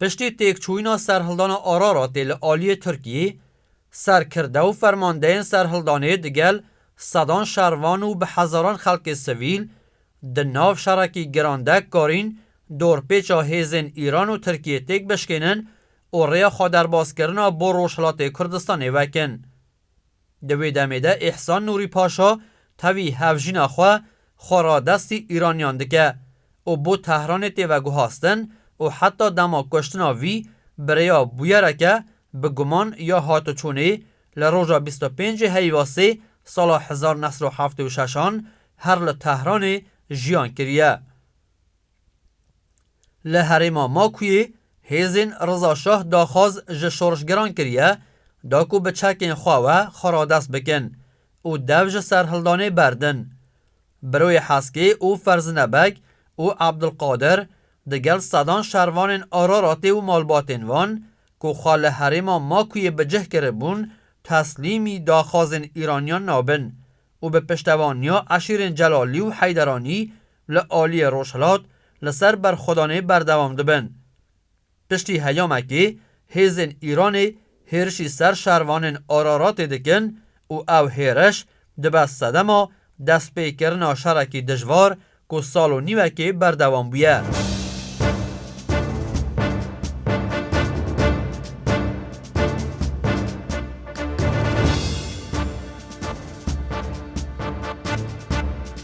Piştî têkçûyîna serhildana Araratê li aliyê Tirkiyê, serkirde û fermandeyên serhildanê digel sedan şervan û bi hezaran xelkê sivîl di nav şerekî giran de karîn dorpêça hêzên Îran û Tirkiyê têk bişkênin û rêya xwederbazkirina bo Rojhilatê Kurdistanê vekin. Di wê demê de Îhsan Nûrî Paşa tevî hevjîna xwe xwe radestî Îraniyan dike û bo Tehranê tê veguhastin û heta dema kuştina vî birêya bûyereke bi guman ya hatoçûnê li roja bîst û pêncê Heyvasê sala hezar nesd û heftê û şeş an her li Tehranê jiyan kiriye. Li herêma Makuyê hêzên Riza Şah daxwaz ji şorişgeran kiriye da ku bi çekên xwe we xwe radest bikin û dev ji serhildanê berdin. Biroyê Heskê û Ferzine Beg û Abdulkadir di gel sedan şervanên Araratê û malbatên wan ku xwe li herêma Makuyê bi cih kiribûn teslîmî daxwazên Îraniyan nabin û bi piştevaniya eşîrên Celalî û Heyderanî li aliyê Rojhilat li ser berxwedanê berdewam dibin. Piştî heyamekê hêzên Îranê hêrişî ser şervanên Araratê dikin û ew hêriş dibe sedema destpêkirina şerekî dijwar ku sal û nîwekê berdewam bûye.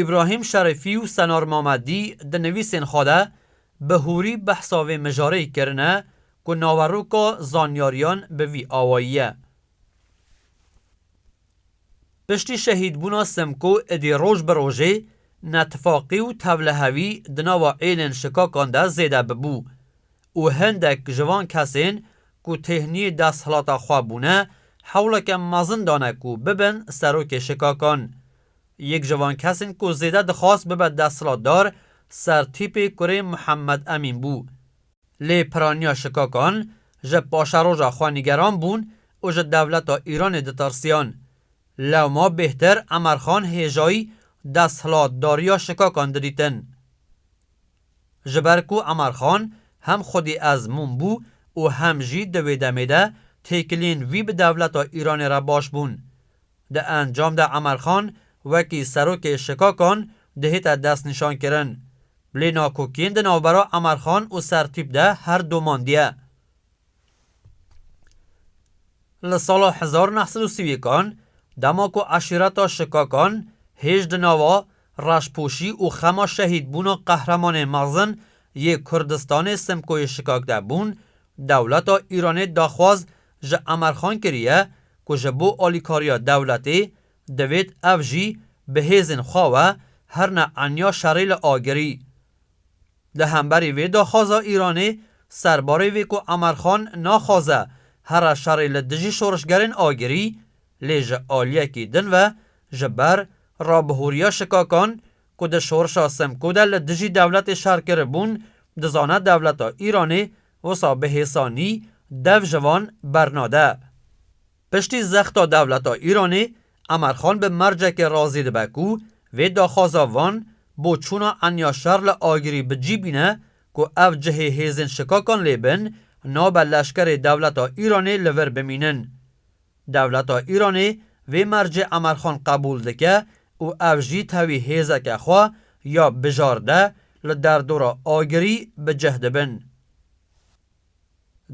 Îbrahîm Şerîfî û Senar Mamedî di nivîsên xwe de bi hûrî behsa vê mijareyê kirine ku naveroka zanyariyan bi vî awayî ye. Piştî şehîdbûna Simko idî roj bi rojê netifaqî û tevlihevî di nava êlên şikakan de zêde bibû. û hendek ji van kesên ku têhnî desthilata xwe bûne hewleke mezin dane ku bibin serokê şikakan. Yek ji van kesên ku zêde dixwast bibe desthilatdar sertîpê kurê Muhammed Emîn bû. Lê piraniya şikakan ji paşeroja xwe nîgeran bûn û ji dewleta Îranê ditirsiyan. Lewma bêhtir Emerxan hêjayî desthilatdariya şikakan didîtin. Ji ber ku Emar Xan hem xwedî ezmûn bû û hem jî di wê demê de têkiliyên wî bi dewleta Îranê re baş bûn. Di encam de Emar Xan wekî serokê şikakan dihête destnîşankirin. Lê nakokiyên di navbera Emar Xan û Sertîp de her domandiye. Li sala hezar neh sed û sî û yekan, dema ku eşîreta Şikakan hêj di nava reşpoşî û xema şehîdbûna qehremanên mezin yê Kurdistanê Simkoyê Şikak de bûn, dewleta Îranê daxwaz ji Emerxan kiriye ku ji bo alîkariya dewletê divêt ev jî bi hêzên xwe we her ne enya şerê li agirî. Di hemberî vê daxwaza Îranê serbarê vê ku Emer Xan naxwaze here şerê li dijî şorişgerên agirî, lê ji aliyekî din ve ji ber rabihûriya şikakan ku di şorişa Simko de li dijî dewletê şer kiribûn, dizane dewleta Îranê wisa bi hêsanî dev ji van bernade. Piştî zexta dewleta Îranê, Emerxan bi mercekê razî dibe ku vê daxwaza van bo çûna enya şer li agirî bi cî bîne ku ev cihê hêzên şikakan lê bin, nabe leşkerê dewleta Îranê li vir bimînin. Dewleta Îranê vê mercê Emerxan qebûl dike û ev jî tevî hêzeke xwe ya bijarde li derdora agirî bi cih dibin.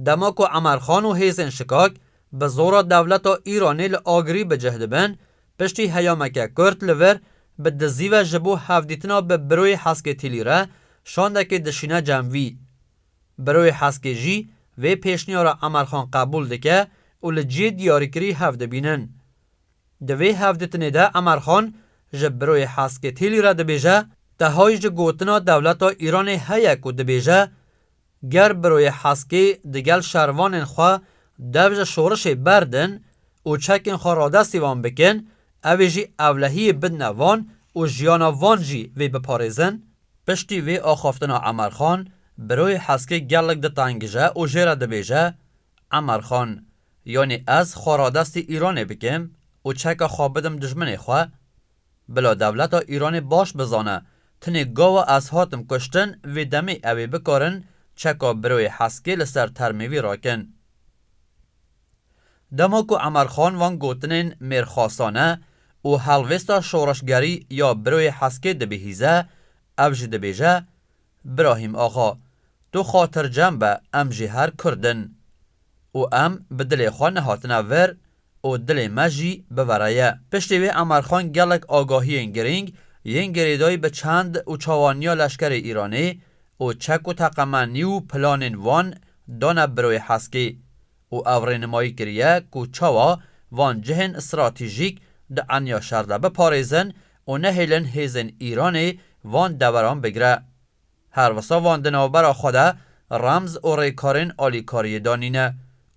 Dema ku Emerxan û hêzên şikak bi zora dewleta Îranê li agirî bi cih dibin, piştî heyameke kurt li vir bi dizî ve ji bo hevdîtina bi Biroyê Heskê Tîlî re şandekê dişîne cem vî. Biroyê Heskê jî vê pêşniyara Emerxan qebûl dike û li cihê diyarîkirî hev dibînin. Di vê hevdîtinê de Emerxan ji Biroyê Heskê Tîlî re dibêje, Tehay ji gotina dewleta Îranê heye ku dibêje Ger Biroyê Heskî digel şervanên xwe dev ji şorişê berdin û çekên xwe radestî wan bikin, ew ê jî ewlehiyê bidne van û jiyana van jî vê biparêzin. Piştî vê axaftina Emer Xan, Biroyê Heskî gelek ditengije û jê re dibêje, Emer Xan, yanî ez xwe radestî Îranê bikim û çeka xwe bidim dijminê xwe? Bila dewleta Îranê baş bizane tenê gawa ez hatim kuştin vê demê ew ê bikarin çeka biroyê Heskê li ser termê wî rakin. Dema ku Emer Xan van gotinên mêrxasane û helvêsta şoreşgerî ya biroyê Heskê dibihîze ev jî dibêje, Birahîm axa, tu xatircem be em jî her Kurd in û em bi dilê xwe nehatine vir, û dilê me jî bivera ye. Piştî wê Emar Xan gelek agahiyên girîng yên girêdayî bi çand û çawaniya leşkerê Îranê û çek û teqemenî û planên wan dane Biroyê Heskî û ew rênimayî kiriye ku çawa van cihên stratîjîk di enya şer de biparêzin û nehêlin hêzên Îranê van deveran bigire. Her wisa van di navbera xwe de remz û rêkarên alîkariyê danîne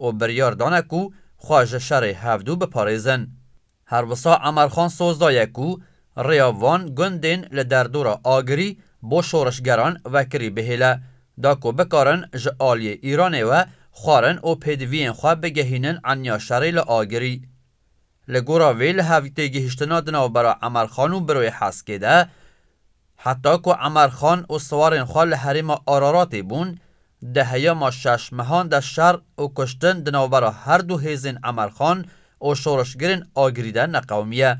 û biryar dane ku xwe ji şerê hevdû biparêzin. Her wisa Emerxan soz daye ku rêya van gundên li derdora Agirî bo şorişgeran vekirî bihêle da ku bikarin ji aliyê Îranê we xwarin û pêdiviyên xwe bigehînin enya şerê li Agirî. Li gora vê li hev têgihiştina di navbera Emerxan û Biroyê Heskê de, heta ku Emerxan û siwarên xwe li herêma Araratê bûn, di heyama şeş mehan de şer û kuştin di navbera her du hêzên Emerxan û şoreşgirên Agirî de neqewimiye.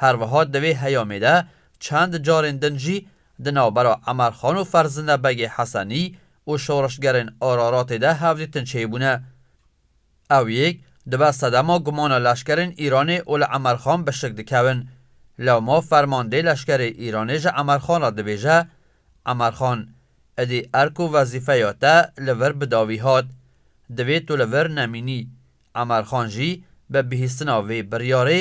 Her wiha di vê heyamê de çend carên din jî di navbera Emerxan û Ferzinde Begê Hesenî û şoreşgerên Araratê de hevdîtin çêbûne. Ew yek dibe sedema gumana leşkerên Îranê û li Emerxan bişik dikevin. Lewma fermandê leşkerê Îranê ji Emerxan re dibêje, Emerxan, idî erk û wezîfeya te li vir bi dawî hat. Divê tu li vir nemînî. Emerxan jî bi bihîstina vê biryarê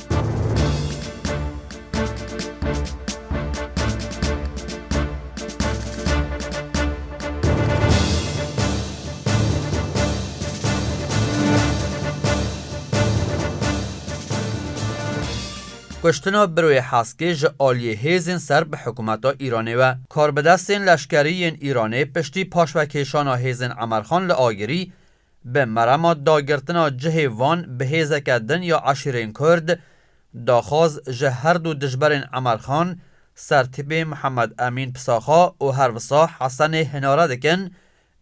Kuştina Biroyê Heskê ji aliyê hêzên ser bi hikûmeta Îranê we. Karbidestên leşkerî yên Îranê piştî paşvekêşana hêzên Emerxan li Agirî, Bi merama dagirtina cihê van bi hêzeke din ya eşîrên Kurd, daxwaz ji her du dijberên Emer Xan, Sertîpê Mihemed Emîn Pisaxa û her wisa Hesenê Hinare dikin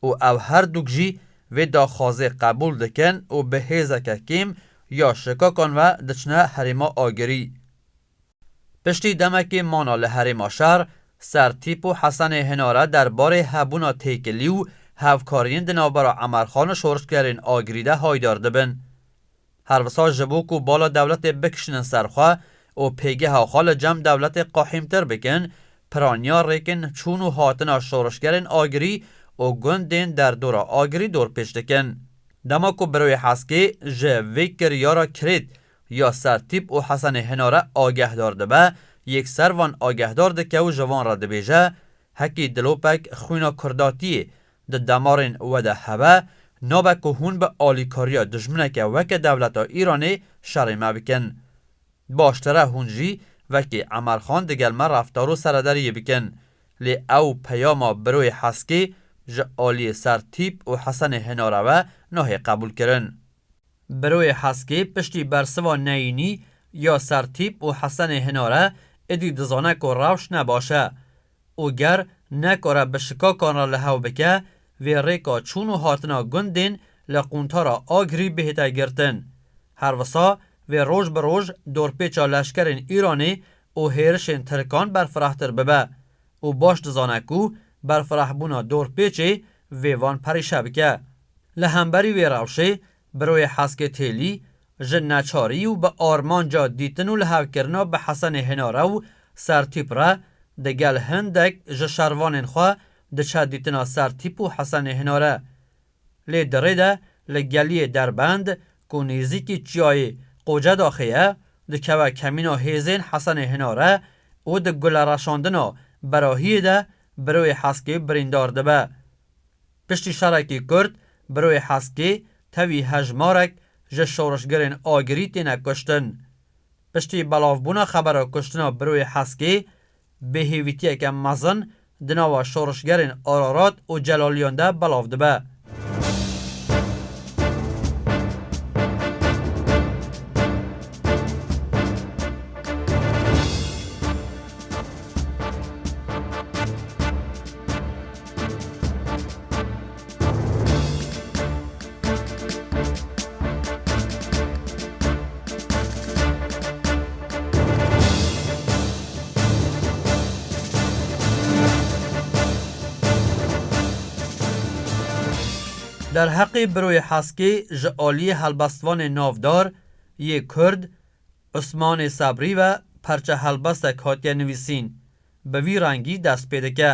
û ew her dûk jî vê daxwazê qebûl dikin û bi hêzeke kêm ya şikakan ve diçine herêma agirî. Piştî demekê mana li herêma şer, Sertîp û Hesenê Hinare der barê hebûna têkilî û hevkariyên di navbera Emerxan û şorişgerên Agirî de haydar dibin. Her wisa ji bo ku bala dewletê bikişînin ser xwe û pêgeha xwe li cem dewletê qehîmtir bikin, piraniya rêkên çûn û hatina şorişgerên Agirî û gundên derdora Agirî dorpêç dikin. Dema ku Birûyê Heskê ji vê kiryara kirêt Ya ser tîp û hesenê hêna re agehdar dibe, yekser van agehdar dike û ji van re dibêje, Hekî dilopek xwîna kurdatiyê di demarên we de hebe, nabe ku hûn bi alîkariya dijmineke weke dewleta Îranê şerê me bikin. Baştir e hûn jî wekî Emer Xan digel me reftar û serederiyê bikin. Lê ew peyama biroyê heskê ji aliyê ser tîp û hesenê hêna re ve nahê qebûlkirin. Beroyê Heskê piştî bersiva Neyînî ya Sertîp û Hesenê Hinare êdî dizane ku rewş ne baş e û ger nekare bi şikakan re li hev bike vê rêka çûn û hatina gundên li quntara Agirî bihête girtin. Her wisa vê roj bi roj dorpêça leşkerên Îranê û hêrişên Tirkan berfirehtir bibe. û baş dizane ku berfirahbûna dorpêçê vê van perîşe bike. Li hemberî wê rewşê, Biroyê Heskê Têlî, ji neçarî û bi armanca dîtin û lihevkirina bi Hesenê Hênare û Sertîp re, digel hindek ji şervanên xwe diçe dîtina Sertîp û Hesenê Hênare. Lê di rê de li geliyê Derbend ku nêzîkî çiyayê Qocedaxê ye, dikeve kemîna hêzên Hesenê Hinare û di gulereşandina Berahiyê de Biroyê Heskê birîndar dibe. Piştî şerekî Kurd, Biroyê Heskê tevî hejmarek ji şorişgerên agirî têne kuştin. Piştî belavbûna xebera kuştina Biroyê Heskê, bi hêvîtiyeke mezin di nava şorişgerên Ararat û Celaliyan de belav dibe. Derheqê Biroyê Haskê ji aliyê helbestvanê navdar yê Kurd Usmanê Sebrî ve parçehelbestek hatiye nivîsîn, bi vî rengî dest pê dike.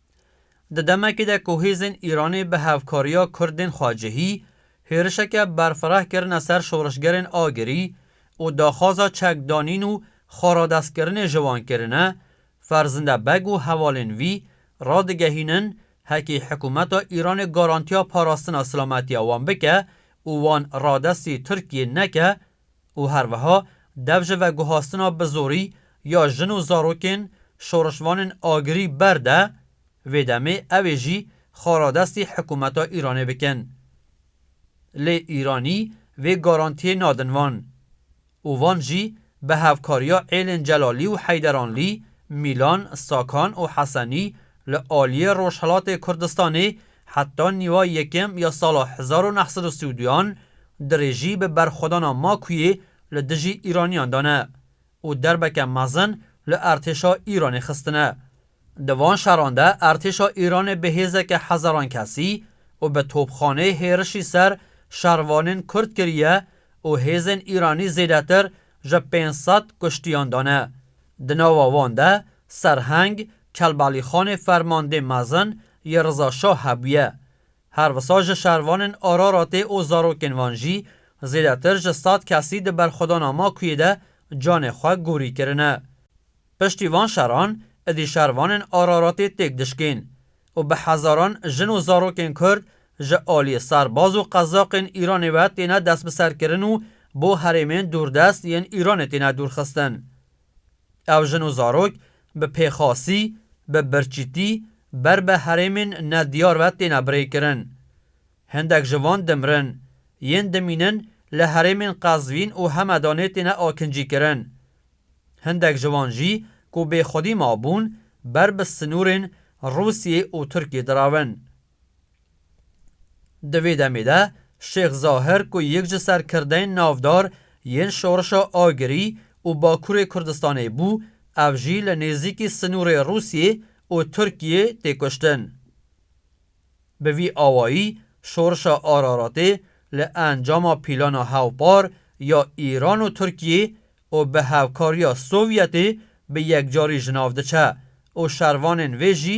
Di demekê de ku hêzên Îranê bi hevkariya Kurdên xwecihî hêrişeke berfireh kirine ser şorişgerên agirî û daxwaza çekdanîn û xweradestkirinê ji wan kirine, Ferzinde Beg û hevalên wî radigehînin hekî hikûmeta Îranê garantiya parastina silametiya wan bike û wan radestî Tirkiyê neke, û herwiha dev ji veguhastina bi zorî ya jin û zarokên şorişvanên agirî ber de, vê demê ew ê jî xaradestî hikûmeta Îranê bikin. Lê Îranî vê garantiyê nadin van û van jî bi hevkariya êlên Celalî û Heyderanlî, Mîlan, Sakan û Hesenî Li aliyê Rojhilatê Kurdistanê heta nîva yekem ya sala hezar û neh sed û sî û duyan dirêjî bi berxwedana makûyê li dijî Îraniyan dane û derbeke mezin li Ertêşa Îranê xistine. Di van şeran de Ertêşa Îranê bi hêzeke hezaran kesî û bi topxaneyê hêrişî ser şervanên Kurd kiriye û hêzên Îranî zêdetir ji pênc sed kuştiyan dane. Di nava wan de Serheng Kelbalîxanê fermandê mezin yê Riza Şah hebûye. Her wisa ji şervanên Araratê û zarokên wan jî zêdetir ji sed kesî di berxwedana Makuyê de canê xwe gorî kirine. Piştî van şeran idî şervanên Araratê têk dişkên û bi hezaran jin û zarokên Kurd ji aliyê serbaz û qezaqên Îranê ve têne destbiserkirin û bo herêmên dûrdest yên Îranê têne dûrxistin. Ev jin û zarok bi pêxasî, bi birçîtî ber bi herêmên nediyar ve têne birêkirin. Hindek ji van dimirin, yên dimînin li herêmên Qezvîn û Hemedanê têne akincîkirin. Hindek ji wan jî ku bêxwedî mabûn ber bi sinûrên Rûsyê û Tirkiyê diravin. Di vê demê de Şêx Zahir ku yek ji serkirdeyên navdar yên şorişa Agirî û Bakurê Kurdistanê bû, ev jî li nêzîkî sinûrê Rûsyê û Tirkiyê tê kuştin. Bi vî awayî şorişa Araratê li encama pîlana hevpar ya Îran û Tirkiyê û bi hevkariya Sovyetê bi yekcarî ji nav diçe û şervanên vê jî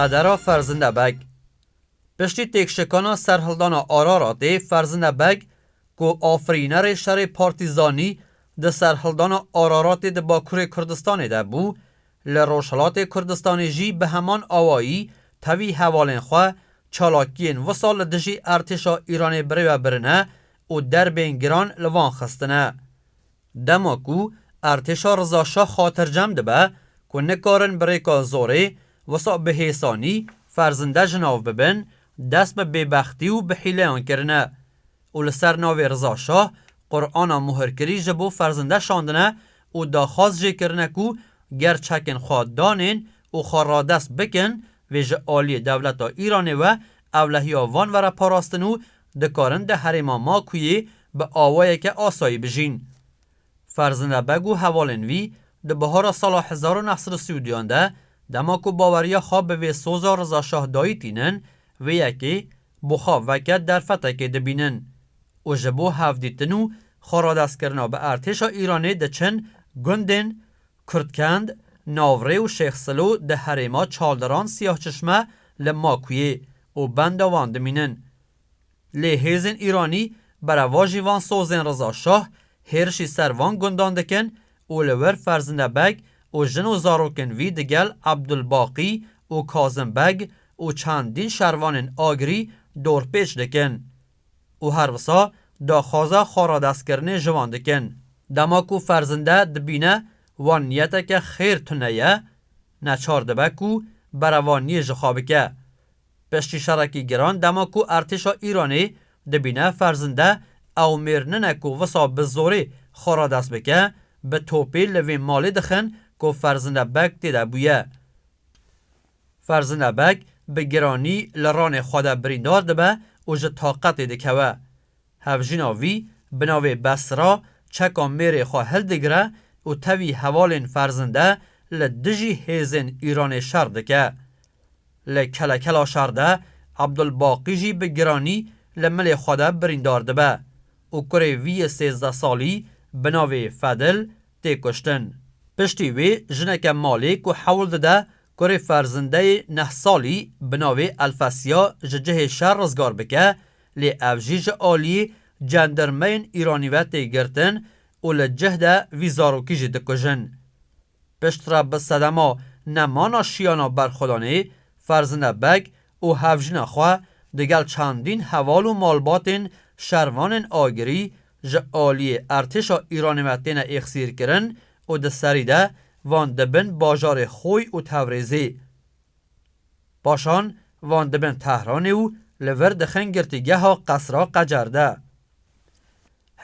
Qedera Ferzinde Beg Piştî têkşikana serhildana Araratê Ferzinde Beg ku afirînerê şerê partîzanî di serhildana Araratê di Bakurê Kurdistanê de bû, Li Rojhilatê Kurdistanê jî bi heman awayî tevî hevalên xwe çalakiyên wisa li dijî artêşa Îranê birêve birine û derbên giran li van xistine. Dema ku artêşa Riza Şah xatircem dibe ku nikarin bi rêka zorê wisa bi hêsanî ferzinde ji nav bibin, dest bi bêbextî û bi hîleyan kirine. û li ser navê Riza Şah Qur'ana muhirkirî ji bo ferzinde şandine û daxwaz jê kirine ku ger çekên xwe danên û xwe radest bikin vê ji aliyê dewleta Îranê we ewlehiya van were parastin û dikarin di herêma Makûyê bi awayeke asayî bijîn. Ferzinde Beg û hevalên wî di bihara sala hezar û neh sed û sî û duyan de dema ku baweriya xwe bi vê soza Riza Şah dayî tînin, vê yekê bo xwe veke derfetekê dibînin û ji bo hevdîtin û xwe radestkirina bi Ertêşa Îranê diçin gundên Kurdkend, Navrê û Şêx Silo di herêma Çaldiran Siyahçişme li Makuyê û benda wan dimînin. Lê hêzên Îranî berevajî van sozên Riza Şah hêrişî ser van gundan dikin û li wir Ferzinde Beg û jin û zarokên wî digel Ebdulbaqî û Kazim Beg û çendîn şervanên Agirî dorpêç dikin û her wisa daxwaza xwe radestkirinê ji wan dikin. Dema ku Ferzinde dibîne wan niyeteke xêr tune ye, neçar dibe ku berevaniyê ji xwe bike. Piştî şerekî giran dema ku artêşa Îranê dibîne ferzinde ew mêr nine ku wisa bi zorê xwe re dest bike, bi topê li vê malê dixin ku ferzinde beg tê de bûye. Ferzinde beg bi giranî li ranê xwe de birîndar dibe û ji taqetê dikewe. Hevjîna wî bi navê Besra çeka mêrê xwe hildigire û tevî hevalên ferzinde li dijî hêzên Îranê şer dike. Li kelekela şer de Abdulbaqî jî bi giranî li milê xwe de birîndar dibe û kurê wî yê sêzdeh salî bi navê Fedil tê kuştin. Piştî wê jineke malê ku hewl dide kurê ferzindeyê neh salî bi navê Elfesya ji cihê şer rizgar bike Lê ev jî ji aliyê cendirmeyên Îranî ve tê girtin û li cih de vî zarokî jî dikujin. Piştre bi sedema nemana şiyana berxwedanê, Ferzine Beg û hevjina xwe digel çendîn heval û malbatên şervanên agirî ji aliyê ertêşa Îranê ve têne êxsîrkirin û di serî de van dibin bajarê Xoy û Tevrizê. Paşan van dibin Tehranê û li vir dixin girtîgeha Qesra Qecer de.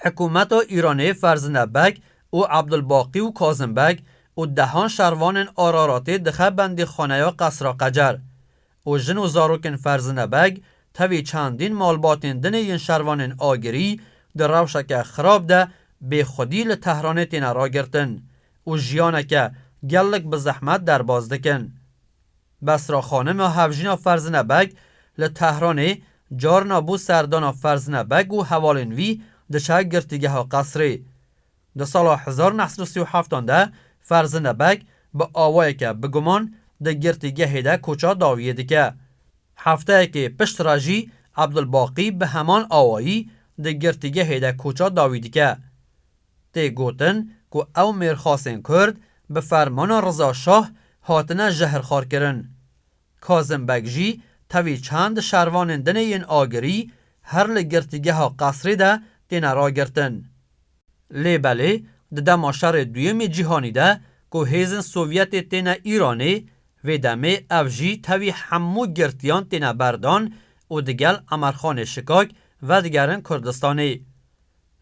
Hikûmeta Îranê Ferzinde Beg û Ebdulbaqî û Kazim Beg û dehan şervanên Araratê dixe bendîxaneya Qesra Qecer û jin û zarokên Ferzinde Beg tevî çendîn malbatên din ê yên şervanên agirî di rewşeke xirab de bêxwedî li Tehranê têne ragirtin û jiyaneke gelek bi zehmet derbas dikin. Besra Xanim a hevjîna Ferzine Beg li Tehranê carina bû serdana Ferzine Beg û hevalên wî diçe girtîgeha qesrê. Di sala hezar neh sed û sî û heft an de Ferzine Beg bi awayeke biguman di girtîgehê de koça dawiyê dike. Hefteyekê pişt re jî Ebdulbaqî bi heman awayî di girtîgehê de koça dawî dike. Tê gotin ku ew mêrxasên Kurd bi fermana Riza Şah hatine jehirxwarkirin. Kazim Beg jî tevî çend şervanên din ê yên Agirî her li girtîgeha Qesrê de têne ragirtin. Lê belê di dema Şerê Duyemê Cîhanî de ku hêzên Sovyetê têne Îranê, vê demê ev jî tevî hemû girtiyan têne berdan û digel Emerxanê Şikak vedigerin Kurdistanê.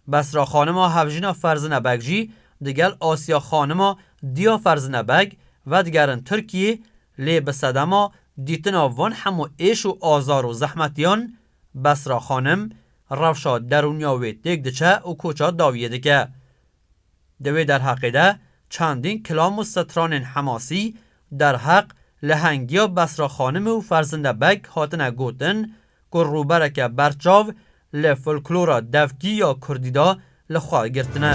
Besra xanima hevjina Ferzine Beg jî digel Asya xanima diya Ferzine Beg vedigerin Tirkiyê lê bi sedema dîtina van hemû êş û azar û zehmetiyan Besra xanim rewşa derûniya wê têk diçe û koça dawiyê dike. Di wê derheqê de çendîn kilam û stranên hemasî derheq lehengiya Besra xanimê û Ferzinde Beg hatine gotin ku rûbereke berçav li folklora devkî ya kurdî de li xwe girtine.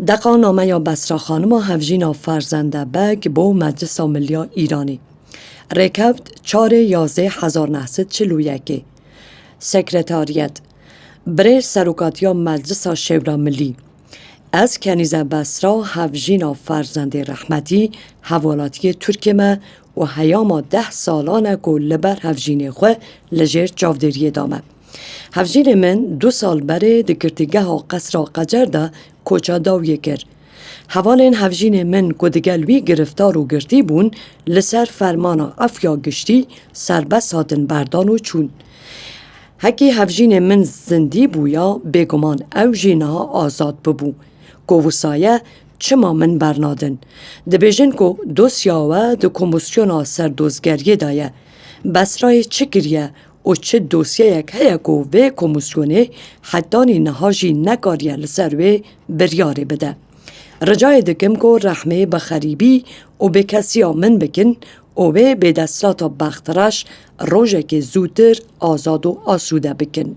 Deqa nameya Besra Xanima Hevjîna Ferzende Beg bo Meclisa Milya Îranî rêkevt çarê yazdeh hezar neh sed çil û yekê. Sekretariyet Birê Serokatiya Meclisa Şewra Milî Ez Kenîze Besra Hevjîna Ferzendê Rehmetî Hevwelatiyê Tirkê me û heyama deh salan e ku li ber hevjînê xwe li jêr çavdêriyê da me. Hevjînê min du sal berê di girtîgeha Qesra Qecer de koça dawiyê kir. Hevalên hevjînê min ku digel wî giriftar û girtî bûn li ser fermana Efya Giştî serbest hatin berdan û çûn. Hekî hevjînê min zindî bûya bêguman ew jî niha azad bibû. Ku wisa ye çima min bernadin? Dibêjin ku dosya we di komîsyona serdozgeriyê de ye. Besrayê çi kiriye Û çi dosyeyek heye ku vê komîsyonê hetanî niha jî nekariye li ser wê biryarê bide. Ricayê dikim ku rehmê bi xerîbî û bêkesiya min bikin û wê bêdesthilata bextreş rojekê zûtir azad û asûde bikin.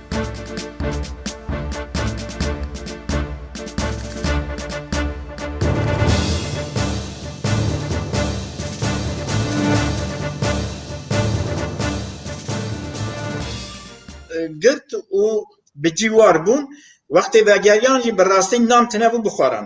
girt û bi cîwar bûn. Wextê vegeriyan jî bi rastî nam tune bû bixwaran.